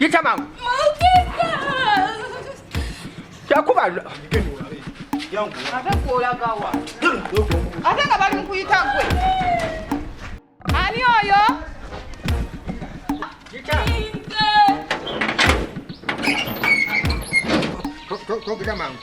Yita mangu. Kyakuba ate gwolagawa ate nga bali mukuyita gwe ani oyo togera mangu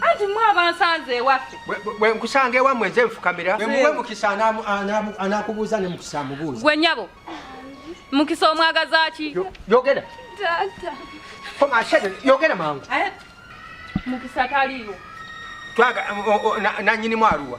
anti mwe abansanze ewaffe bwe nkusanga ewammwe nze nfukamira wemuwe mukisa anakubuuza ne mukisa amubuuza gwe nyabo mukisa omwagazaki yogera yogera mangu mukisa taliiwo nanyini mwaluwa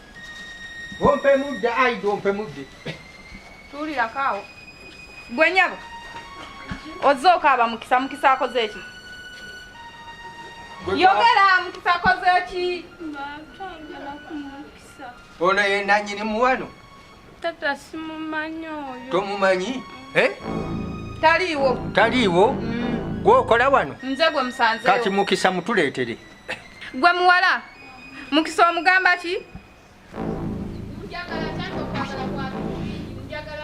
Ompe mudde aida ompe mudde. Tuulira kaawo. Gwe nyabo. Ozze okaaba mukisa mukisa akoze ki? Yogera mukisa akoze ki? Ono ye nannyini muwano. Tata simumanyi oyo. Tomumanyi? Mm. Eh? Taliiwo. Taliiwo? Mm. Gwokola wano? Nze gwe musanzeewo. Kati mukisa mutuleetere. Gwe muwala mukisa omugamba ki?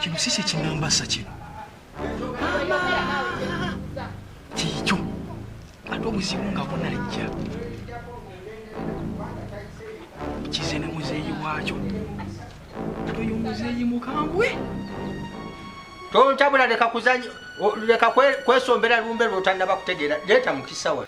Kino si kyekinamba sa kino kikyo ate obuzibu nga bunajja kize ne muzeeyi waakyo oyo muzeeyi mukambwe tontabula leka kwesombera lumbe lwotanaba kutegeera leeta mukisawa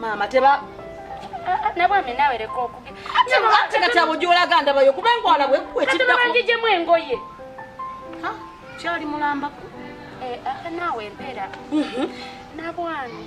maama teba ah, nabwami nawe leka okugeatekati abo gyolaga ndabayo kuba engwala bwekitdakugijemu engoye kyali mulambako eh, ah, nawe empeera mhm. nabwami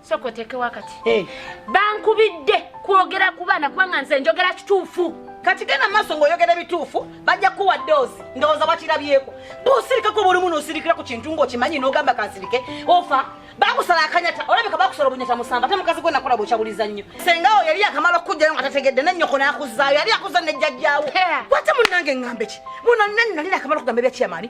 soka oteeke wakati eh. bankubidde kwogera ku baana kubanga nze njogera kituufu kati genda maaso ng'oyogera bituufu bajja kuwa doozi ndowooza bakirabyeko bwosirikako buli muno osirikira ku kintu ng'okimanyi n'ogamba kansirike ofa bakusala akanyata olabika bakusala obunyata musamba ate mukazi gwe nakola bwekyabuliza nnyo sengawo yali akamala okukujjayo nga tategedde nennyoko n'akuzaayo yali akuza ne jjajjaawo wate munnange ng'ambe ki muno nani nali nakamala okugamba ebyakiyamaani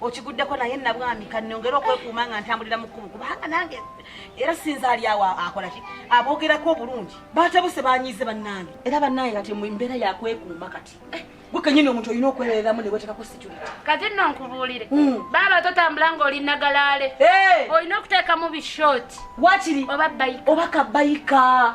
okiguddeko naye nabwami kanongere okwekuuma nga ntambulira mu kkubo kubanga nange era sinzaali awo akola ki aboogerako obulungi batabuse banyiize bannange era bannange kati mu mbeera yakwekuuma kati eh, gwe kenyini omuntu olina okwebereramu ne wetekako security kati nno nkubuulire hmm. baaba totambula nga oli nagalaale eh! olina okuteekamu bishort wakiri oba bayika oba kabayika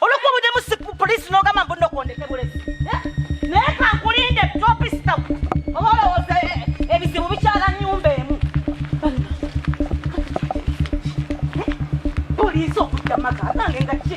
olwokuba budemu si polisi nogamba mbu nokondeke bulesi eh? naye kankulinde topisita oba olowooza eh, eh, ebizibu bikyala nyumba emu polisi okudda maka nange nga ki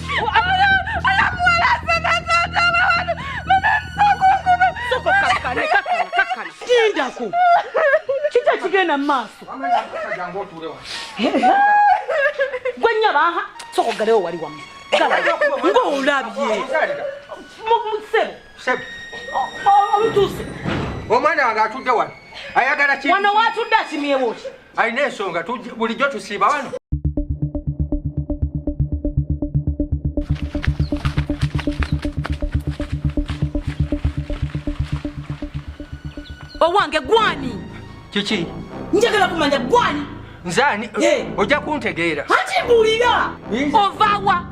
Tindako. Kita kigenda maaso. Gwe nyaba aha. Soko galeo wali wamu. Ngo ulabye. Mukusebo. Sebo. Omutuse. Omwana wange atudde wano. Ayagala ki? Wano watudde akimyewo. alina ensonga bulijjo tusiiba wano owange gwani kiki njagala kumanya gwani nzani eh. ojja kuntegeera ati mbulira ovawa